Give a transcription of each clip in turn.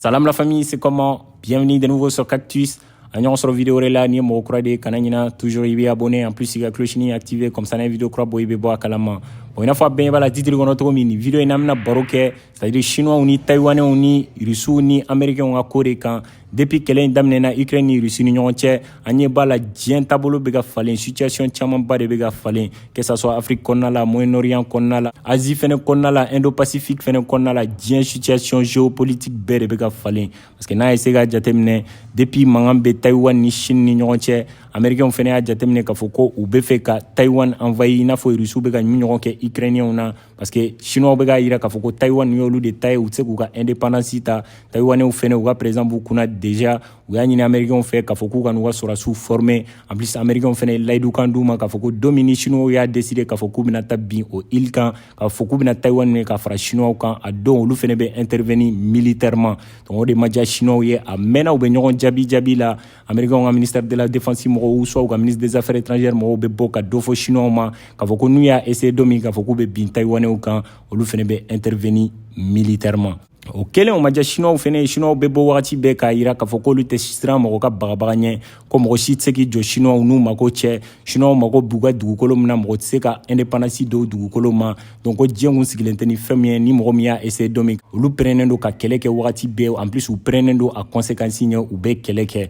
Salam la famille, c'est comment Bienvenue de nouveau sur Cactus. An ɲɔgɔn sɔrɔ vidéo wɛrɛ la n'i ye mɔgɔ kura de ye kana ɲina toujours i bɛ abonné en plus i ka clochini activé comme ça n'an ye vidéo kura bɔ i bɛ bɔ a kalama bon i n'a fɔ a bɛɛ ɲɛ b'a la titre kɔnɔ cogo min nin vidéo in na an bɛna baro kɛ c'est à dire chinois ni taïwanais ni russiw ni américains ka ko de kan depuis kɛlɛ in daminɛna ukraine ni russie ni ɲɔgɔn cɛ an ɲɛ b'a la diɲɛ taabolo bɛ ka falen situation camanba de bɛ ka falen que ça soit Afrique kɔnɔna la Moyen Orient kɔnɔna la Asie fɛnɛ kɔnɔna la Indo Pacifique fɛnɛ kɔnɔna la diɲɛ situation géopolitique bɛɛ de bɛ ka falen parce que n'a ye se k'a jateminɛ depuis mankan bɛ Taïwan ni Chine ni ɲɔgɔn cɛ Américains fɛnɛ y'a jateminɛ k'a fɔ ko u bɛ fɛ ka Taïwan envahir i n'a fɔ Russes bɛ k'a ɲɔgɔn kɛ Ukrainiens na parce que Chinois bɛ k'a yira k'a fɔ ko Taïwan y'olu de ta ye u tɛ se k'u ka indépendance ta Taïwanais fɛnɛ u ka président b'u kunna déjà u y'a ɲini amerikɛnw fɛ k'a fɔ k'u ka n'u ka sɔrɔdasiw forme en plus amerikɛnw fɛnɛ ye layidu kan d'u ma k'a fɔ ko don min ni chinois y'a décider k'a fɔ k'u bɛna taa bin o île kan k'a fɔ k'u bɛna taiwan minɛ ka fara chinois kan a don olu fɛnɛ bɛ intervenir militairement donc o de ma diya chinois ye a mɛnna u bɛ ɲɔgɔn jaabi jaabi la amerikɛnw ka ministère de la défense mɔgɔw soit u ka ministre des affaires étrangères mɔgɔw bɛ bɔ ka dɔ fɔ chinois ma k'a fɔ ko n'u y'a essayer don min k'a fɔ k'u bɛ bin taiwanɛw kan olu fɛnɛ bɛ intervenir militairement o kɛlen o ma diya siniwaw fɛnɛ ye siniwaw bɛ bɔ wagati bɛɛ k'a yira k'a fɔ k'olu tɛ siran mɔgɔ ka bagabaga ɲɛ ko mɔgɔ si tɛ se k'i jɔ siniwaw n'u mako cɛ siniwaw mako b'u ka dugukolo min na mɔgɔ tɛ se ka independance d'o dugukolo ma donc ko diɲɛ kun sigilen tɛ ni fɛn min ye ni mɔgɔ min y'a essaye don min olu pɛrɛnnen don ka kɛlɛ kɛ wagati bɛɛ en plus u pɛrɛnnen don a conséquence ɲɛ u bɛ kɛlɛ kɛ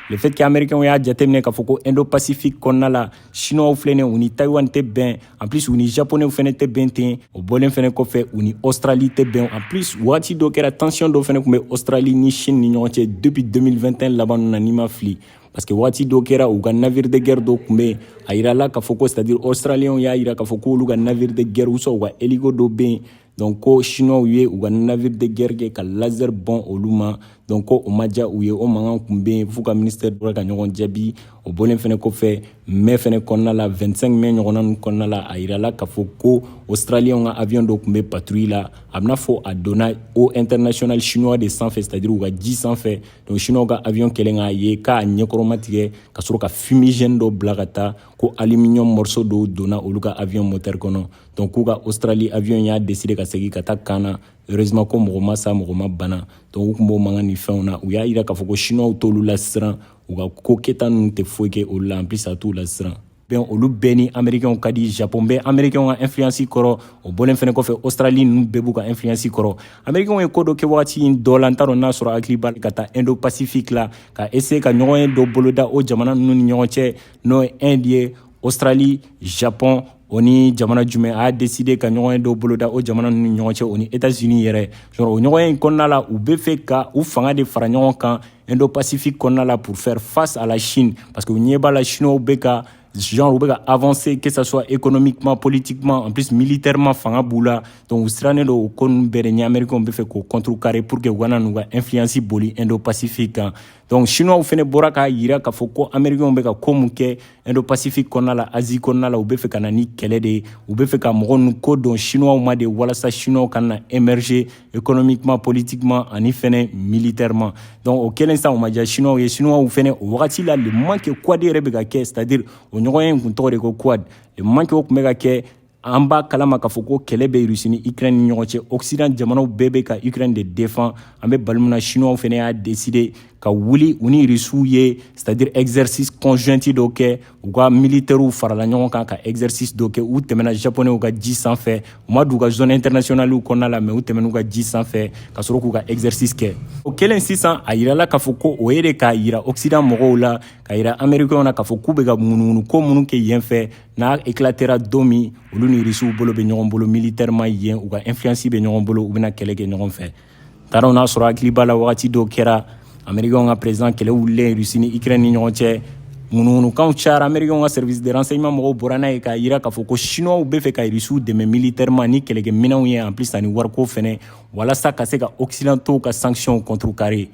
le fait que américain y'a jateminɛ k'a fɔ ko indo pacifique kɔnɔna la siniwaw filɛnen u ni taiwan tɛ bɛn en plus u ni japonɛw fɛnɛ tɛ bɛn ten o bɔlen fɛnɛ kɔfɛ u ni australie tɛ bɛn en plus waati dɔ kɛra tension dɔ fɛnɛ kun bɛ australie ni chine ni ɲɔgɔn cɛ depuis 2021 laban na n'i ma fili parce que waati dɔ kɛra u ka navire de guerre dɔ kun bɛ a yirala k'a fɔ ko c'est à dire australienw y'a yira k'a fɔ k'olu ka navire de guerre ou soit u ka hélico dɔ bɛ yen donc ko chinois ye u ka navire de guerre kɛ ka laser bɔn olu ma donc ko o ma diya u ye o mankan kun bɛ yen f'u ka ministère delila ka ɲɔgɔn jaabi o bɔlen fɛnɛ kɔfɛ mai fɛnɛ kɔnɔna la 25 mai ɲɔgɔnna ninnu kɔnɔna la a yirala k'a fɔ ko australiens ka avion dɔ kun bɛ patrouille la a bɛna fɔ a donna eaux internationales chinois de sanfɛ c'est à dire u ka ji sanfɛ donc chinois ka avion kɛlen k'a ye k'a ɲɛkɔrɔma tigɛ ka sɔrɔ ka fumigène dɔ bila ka taa ko aluminium morceau dɔw donna olu ka avion moteur kɔnɔ donc k'u ka australie avion y'a deside ka segi ka taa camp na heureusement ko mɔgɔ ma sa mɔgɔ ma bana donc u kun b'o mankan ni fɛnw na u y'a yira k'a fɔ ko chinois t'olu lasiran u ka kokɛta ninnu tɛ foyi kɛ olu la en plus a t'u lasiran bɛn olu bɛɛ ni américainw ka di japon bɛ américainw ka influence kɔrɔ o bɔlen fɛnɛ kɔfɛ australie ninnu bɛɛ b'u ka influence kɔrɔ américainw ye ko dɔ kɛ wagati in dɔ la n t'a dɔn n'a sɔrɔ hakili b'a ka taa indo pacifique la ka essaye ka ɲɔgɔnye dɔ boloda o jamana ninnu ni ɲɔgɔn cɛ n'o ye inde ye australie japon o ni jamana jumɛn a y'a deside ka ɲɔgɔnye dɔ boloda o jamana ninnu ni ɲɔgɔn cɛ o ni etats unis yɛrɛ genre o ɲɔgɔnye kɔnɔna la u be fɛ ka u fanga de fara ɲɔgɔn kan indo pacifique kɔnɔna la pour faire face à la chine parce que u ɲɛ b'a la chinow be ka genre u be ka avancer que ça soit économiquement politiquement en plus militairement fanga b'u la donc u sirannen don o ko ninnu bɛɛ de ɲɛ américain be fɛ k'o contrecarrer pour que u kana n'u ka influence boli indo pacifique kan donc chinois fɛnɛ bɔra k'a yira k'a fɔ ko américain be ka ko mun kɛ indo pacifique kɔnɔna la asie kɔnɔna la u be fɛ ka na ni kɛlɛ de ye u be fɛ ka mɔgɔ nu kɔ don chinois ma de walasa chinois kana na émerger économiquement politiquement ani fɛnɛ militairement donc o kɛlen san o ma ja chinois ye chinois fɛnɛ o wagati la le moment que quad yɛrɛ be ka kɛ c'est à dire o ɲɔgɔnye kun tɔgɔ de ko quad le moment que o kun bɛ ka kɛ an b'a kalama k'a fɔ ko kɛlɛ bɛ rusi ni ukraine ni ɲɔgɔn cɛ occident jamanaw bɛɛ bɛ ka ukraine de defan an bɛ baro min na chinois fana y'a deside ka wuli u ni rusiw ye c'est à dire exercice conjointi dɔ kɛ u ka militɛriw farala ɲɔgɔn kan ka exercice dɔ kɛ u tɛmɛna japonɛw ka ji sanfɛ u ma don u ka zone internationaliw kɔnɔna la mais u tɛmɛn'u ka ji sanfɛ ka sɔrɔ k'u ka exercice kɛ o kɛlen sisan a yirala k'a fɔ ko o ye de k'a yira occident mɔgɔw la ka yira américainw na k'a fɔ k'u bɛ ka munumunu ko minnu kɛ yen fɛ n'a éclatera don min olu ni risiw bolo bɛ ɲɔgɔn bolo militɛrɛma yen u ka influence bɛ ɲɔgɔn bolo u bɛna kɛlɛ kɛ ɲɔgɔn fɛ taaraw n'a sɔrɔ hakili b'a la wagati dɔw kɛra amerikɛnw ka president kɛlɛ wulilen rusi ni ukraine ni ɲɔgɔn cɛ ŋunuŋunukanw cayara amerikɛnw ka service de renseignement mɔgɔw bɔra n'a ye k'a yira k'a fɔ ko chinois bɛ fɛ ka rusiw dɛmɛ militɛrɛma ni kɛlɛkɛ minɛnw ye en plus ani wariko fɛnɛ walasa ka se ka occidentaux ka sanctions contrecarrer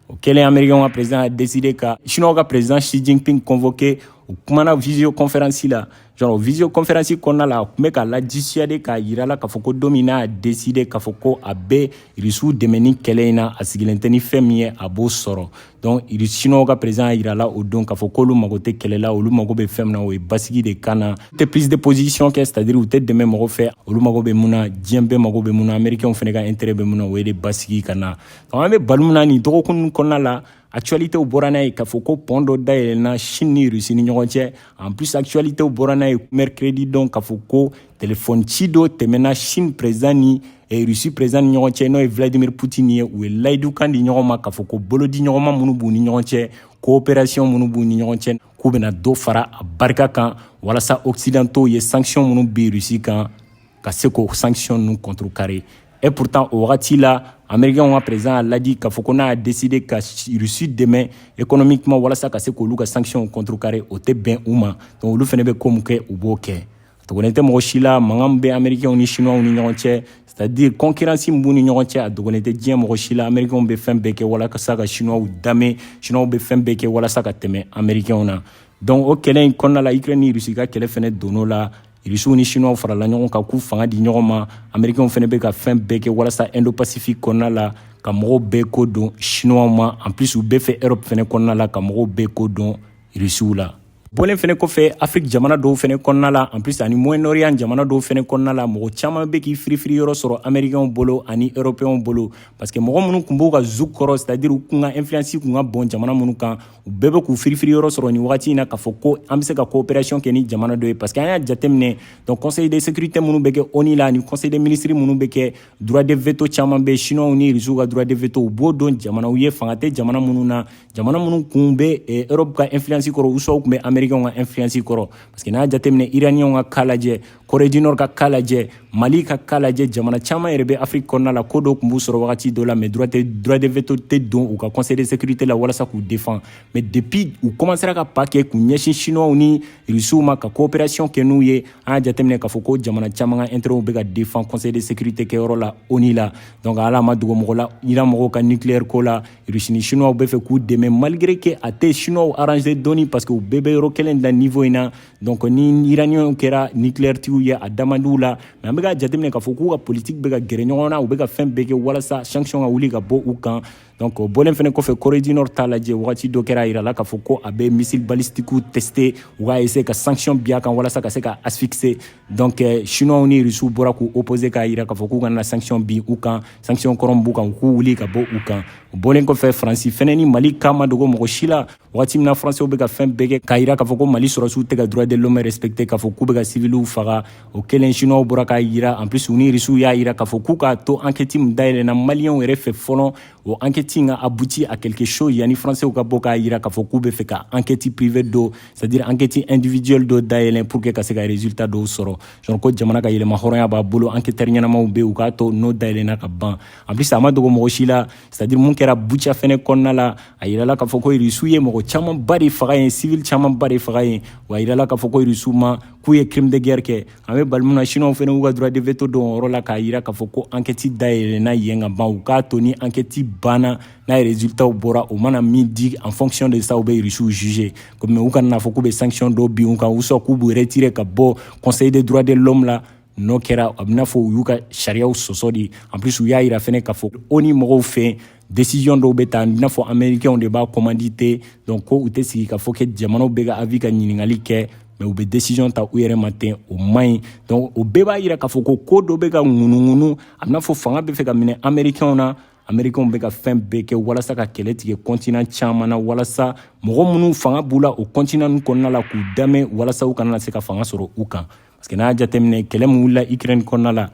O kɛlen Americains ka president y'a decider ka Chinois ka president Xi Jinping convoquer u kumana visio conférence la genre visio conférence kɔnɔna la a tun bɛ k'a la dissuader k'a yira a la k'a fɔ ko don min n'a décider k'a fɔ ko a bɛ irisiw dɛmɛ ni kɛlɛ in na a sigilen tɛ ni fɛn min ye a b'o sɔrɔ donc siniwaw ka président y'a yira a la o don k'a fɔ k'olu mago tɛ kɛlɛ la olu mago bɛ fɛn min na o ye basigi de ka na u tɛ prise de position kɛ c'est à dire u tɛ dɛmɛ mɔgɔ fɛ olu mago bɛ mun na diɲɛ bɛɛ mago bɛ mun na américainw fana ka intérêt bɛ mun na o ye de basigi ka na donc an bɛ baro min na nin dɔgɔkun kɔnɔna la actualité bɔra n'a ye k'a fɔ ko pɔn dɔ dayɛlɛna chine ni russie ni ɲɔgɔn cɛ en plus actualité bɔra n'a ye mercredi don k'a fɔ ko telefɔni ci dɔ tɛmɛna chine président ni eh, russie président ni ɲɔgɔn cɛ n'o ye vladimir poutine ye u ye layidukan di ɲɔgɔn ma k'a fɔ ko bolodi ɲɔgɔnma minnu b'u ni ɲɔgɔn cɛ coopération minnu b'u ni ɲɔgɔn cɛ k'u bɛna dɔ fara a barika kan walasa occidentaux ye sanction minnu bin russie kan ka se k'o sanction ninnu contrecarrer Et pourtant, o wagati la américain ka président a laadi k'a fɔ ko n'a décidé ka russie dɛmɛ économiquement walasa ka se k'olu ka sanction contrecarrer o tɛ bɛn u ma donc olu fana bɛ ko min kɛ u b'o kɛ dogolen tɛ mɔgɔ si la mankan bɛ américainw ni chinois ni ɲɔgɔn cɛ c'est à dire concurrence min b'u ni ɲɔgɔn cɛ a dogolen tɛ diɲɛ mɔgɔ si la américainw bɛ fɛn bɛɛ kɛ walasa ka chinois dame chinois bɛ fɛn bɛɛ kɛ walasa ka tɛmɛ américainw na donc o kɛlɛ in kɔnɔna la ukraine ni russie ka kɛlɛ fana donn'o la irisiw ni siniwaw farala ɲɔgɔn kan k'u fanga di ɲɔgɔn ma amerikɛnw fana bɛ ka fɛn bɛɛ kɛ walasa indo pasifik kɔnɔna la ka mɔgɔw bɛɛ kɔ don siniwaw ma en plus u bɛ fɛ europe fana kɔnɔna la ka mɔgɔw bɛɛ kɔ don irisiw la bɔlen fɛnɛ kɔfɛ afiriki jamana dɔw fɛnɛ kɔnɔna la en plus ani moyen orient jamana dɔw fɛnɛ kɔnɔna la mɔgɔ caman bɛ k'i firifiri yɔrɔ sɔrɔ américainw bolo ani européenw bolo parce que mɔgɔ minnu kun b'u ka joug kɔrɔ c'est à dire u kun ka influence kun ka bon jamana minnu kan u bɛɛ bɛ k'u firifiri yɔrɔ sɔrɔ nin wagati in na k'a fɔ ko an bɛ se ka coopération kɛ ni jamana dɔ ye parce que an y'a jateminɛ donc conseil de sécurité minnu bɛ kɛ ONU la ani conseil de ministre minnu bɛ kɛ droit de veto caman bɛ chinois ni russiw ka droit de veto u b'o don jamanaw ye fanga tɛ jamana minnu na jamana minnu kun bɛ eh, Europe ka influence kɔrɔ ou soit kun bɛ américain ka influence kɔrɔ parce que n'a jateminɛ iraniens ka cas lajɛ corée du nord ka cas lajɛ mali ka cas lajɛ jamana caman yɛrɛ bɛ afiriki kɔnɔna la ko dɔ tun b'u sɔrɔ wagati dɔ la mais droit de veto tɛ don u ka conseil de sécurité la walasa k'u défendre mais depuis u commencera ka pas kɛ k'u ɲɛsin chinois ni rusiw ma ka coopération kɛ n'u ye an y'a jateminɛ k'a fɔ ko jamana caman ka intérêtw bɛ ka défendre conseil de sécurité kɛyɔrɔ la ONU la donc ala ma dogo mɔgɔ la iran mɔgɔw ka nucléaire ko la rusi ni chinois bɛ fɛ k'u dɛmɛ malgré que a tɛ chinois arranger dɔɔni parce que u bɛɛ bɛ yɔrɔ kelen na niveau in na donc ni iraniens kɛra niklɛritigiw ye a da man di u la mais an bɛ k'a jateminɛ k'a fɔ k'u ka politiki bɛ ka gɛrɛ ɲɔgɔn na u bɛ ka fɛn bɛɛ kɛ walasa sanction ka wuli ka bɔ u kan donc o bɔlen fɛnɛ kɔfɛ corée du nord ta lajɛ wagati dɔ kɛra a yirala k'a fɔ ko a bɛ missile balistikiw tester u k'a essayer ka sanction bin a kan walasa ka se k'a asphyxier donc eh, chinois ni rusiw bɔra k'u opposer k'a yira k'a fɔ k'u kana sanction bin u kan sanction kɔrɔ b'u kan u k'u wuli ka bɔ u kan o bɔlen kɔfɛ faransi fɛnɛ ni mali cas ma dogo mɔgɔ si la wagati min na faransɛw bɛ ka fɛn bɛɛ kɛ k'a yira k'a fɔ ko mali sɔrɔsiw tɛ ka droit de l'homme respecter k'a fɔ k'u bɛ ka siviliw faga o kɛlen chinois bɔra k'a yira en plus u ni rusiw y'a yira k'a fɔ k'u k'a to ankɛti min dayɛlɛna maliyɛnw yɛrɛ fɛ fɔlɔ o ankɛti in ka aboutir à quelque chose yanni faransɛw ka bɔ k'a yira k'a fɔ k'u bɛ fɛ ka ankɛti privé dɔ c'est à dire ankɛti individuel dɔ dayɛlɛn pour que ka se ka résultat dɔw sɔrɔ sɔrɔ ko jamana ka yɛrɛmahɔrɔnya b'a bolo ankɛtɛri ɲɛnamaw bɛ yen u k'a to n'o dayɛlɛna ka ban en plus a ma dogo mɔgɔ si la c'est à dire mun kɛra buca fɛnɛ kɔnɔna la a yirala k'a fɔ ko irisiw ye mɔgɔ camanba de faga yen sivili camanba de faga yen wa a yirala k'a fɔ ko irisiw ma k'u ye crime de guerre kɛ an bɛ waati min na siniwaw fɛnɛ y'u ka droit de veto don o yɔrɔ la k'a yira k'a fɔ ko ankɛti dayɛlɛna yen ka ban u k'a to ni ankɛti banna n'a ye résultatw bɔra o mana min di en fonction de ça u bɛ irisiw juger komi u kana n'a fɔ k'u bɛ sanction dɔ bin u kan ou soit k'u b'u retirer ka bɔ conseil de droit de l'homme la n'o kɛra a bɛna fɔ u y'u ka sariyaw sɔsɔ de en plus u y'a yira fɛnɛ k'a fɔ onu mɔgɔw fɛ décision dɔw bɛ ta i n'a fɔ américainw de b'a commandité donc ko u tɛ sigi k'a fɔ que jamanaw bɛɛ ka avis ka ɲininkali kɛ mais u bɛ décision ta u yɛrɛ ma ten o man ɲi donc o bɛɛ b'a yira k'a fɔ ko ko dɔ bɛ ka ŋunuŋunu a bɛna fɔ fanga bɛ fɛ ka minɛ américainw na américainw bɛ ka fɛn bɛɛ kɛ walasa ka kɛlɛ tigɛ continent caman na walasa mɔgɔ minnu fanga b'u la o continent ninnu kɔnɔna la k'u damɛ walasa u kana na se ka fanga sɔrɔ u kan parce que n'a y'a jateminɛ kɛlɛ min wulila ukraine kɔnɔna la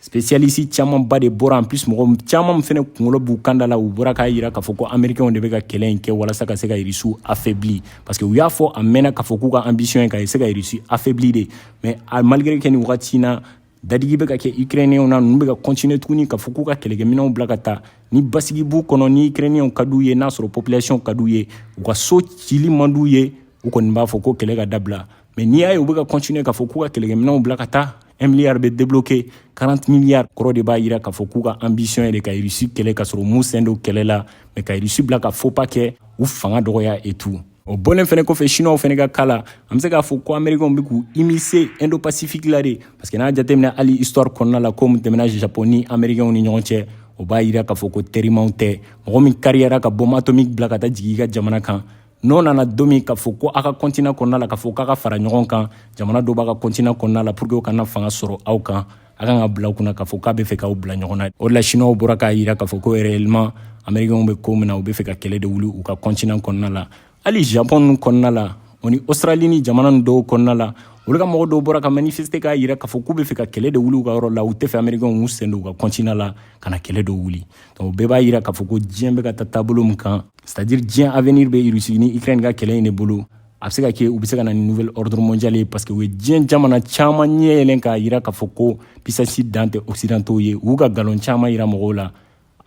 spécialiste camanba de bɔra en plus mɔgɔ caman fɛnɛ kungolo b'u kanda la u bɔra k'a yira k'a fɔ ko américainw de bɛ ka kɛlɛ in kɛ walasa ka se ka irisiw affaibli parce que u y'a fɔ a mɛnna k'a fɔ k'u ka ambition ye ka se ka irisi affaibli de mais malgré que nin wagati na dadigi bɛ ka kɛ ukrainiyɛnw na ninnu bɛ ka continuer tuguni k'a fɔ k'u ka kɛlɛkɛminɛnw bila ka taa ni basigi b'u kɔnɔ ni ukrainiyɛnw ka d'u ye n'a sɔrɔ population ka d'u ye u ka so cili man d'u ye u kɔni b'a fɔ ko kɛlɛ ka dabila mais n'i y'a ye u bɛ ka continuer k'a fɔ k'u ka kɛlɛkɛminɛnw bila ka taa un milliard bɛ débloquer 40 milliards kɔrɔ de b'a yira k'a fɔ k'u ka ambition ye de ka irisi kɛlɛ k'a sɔrɔ u m'u sen don kɛlɛ la mais ka irisi bila ka faux pas kɛ u fanga dɔgɔya et tout o bɔlen fɛnɛ kɔfɛ chinois fɛnɛ ka ko la an bɛ se k'a fɔ ko américainw bɛ k'u immiscer indo pacifique la de parce que n'a jateminɛ hali histoire kɔnɔna la ko min tɛmɛna japon ni américainw ni ɲɔgɔn cɛ o b'a yira k'a fɔ ko terimaw tɛ mɔgɔ min kariyara ka bombe atomique bila ka taa jigin i ka jamana kan n'o nana don min k'a fɔ ko aw ka continent kɔnɔna la k'a fɔ k'a ka fara ɲɔgɔn kan jamana dɔw b'a ka continent kɔnɔna la pour que u kana fanga sɔrɔ aw kan a kan ka bila u kunna k'a fɔ k'a bɛ fɛ k'aw bila ɲɔgɔn na o de la siniwaw bɔra k'a yira k'a fɔ ko réellement américainw bɛ ko min na u bɛ fɛ ka kɛlɛ de wuli u ka continent kɔnɔna la hali japon ninnu kɔnɔna la o ni australie ni jamana nin dɔw kɔnɔna la olu ka mɔgɔ dɔw bɔra ka manifester k'a yira k'a fɔ k'u bɛ fɛ ka kɛlɛ de wuli u ka yɔrɔ la u tɛ fɛ américainw k'u sen don u ka continent la ka na kɛlɛ dɔ wuli donc o bɛɛ b'a yira k'a fɔ ko diɲɛ bɛ ka taa taabolo min kan c'est à dire diɲɛ avenir bɛ irisi ni ukraine ka kɛlɛ in de bolo a bɛ se ka kɛ u bɛ se ka na ni nouvel ordre mondial ye parce que u ye diɲɛ jamana caman ɲɛ yɛlɛn k'a yira k'a fɔ ko puissance dan tɛ occidentaux ye u y'u ka galon caman yira mɔgɔw la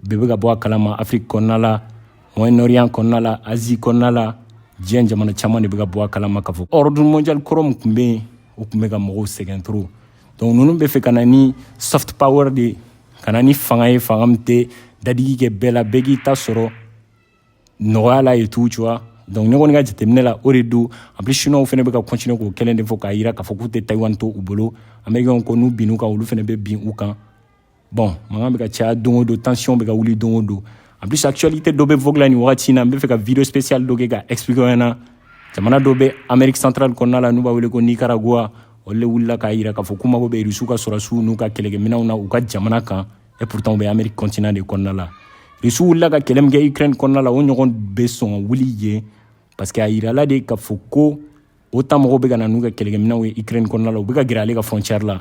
bɛɛ bɛ ka bɔ a kalama afiriki kɔnɔna la moyen orient kɔnɔna la asie kɔnɔna la diɲɛ jamana caman de bɛ ka bɔ a kalama k'a fɔ ordre mondial kɔrɔ min tun bɛ yen o tun bɛ ka mɔgɔw sɛgɛn trop donc ninnu bɛ fɛ ka na ni soft power de ye ka na ni fanga ye fanga min tɛ dadigi kɛ bɛɛ la bɛɛ k'i ta sɔrɔ nɔgɔya la et tout ça donc ne kɔni ka jateminɛ la o de don en plus chinois fɛnɛ bɛ ka continuer k'o kelen de fɔ k'a yira k'a fɔ k'u tɛ taïwan to u bolo américainw ko n'u binn'u kan olu fɛnɛ bɛ bin u kan bon mankan bɛ ka caya don o don tension bɛ ka wuli don o don en plus actualité dɔ bɛ vogue la nin wagati in na n bɛ fɛ ka video spécial dɔ kɛ ka expliquer aw ɲɛna jamana dɔ bɛ amérique centrale kɔnɔna la n'u b'a wele ko nicaragua olu de wulila k'a yira k'a fɔ k'u mago bɛ rusiw ka sɔrɔdasiw n'u ka kɛlɛkɛminɛnw na u ka jamana kan et pourtant u bɛ amérique continent de kɔnɔna la rusiw wulila ka kɛlɛ min kɛ ukraine kɔnɔna la o ɲɔgɔn bɛ sɔn ka wuli yen parce que a yirala de k'a fɔ ko otan mɔgɔw bɛ ka na n'u ka kɛlɛkɛminɛnw ye ukraine kɔnɔna la u bɛ ka gɛrɛ ale ka frontière la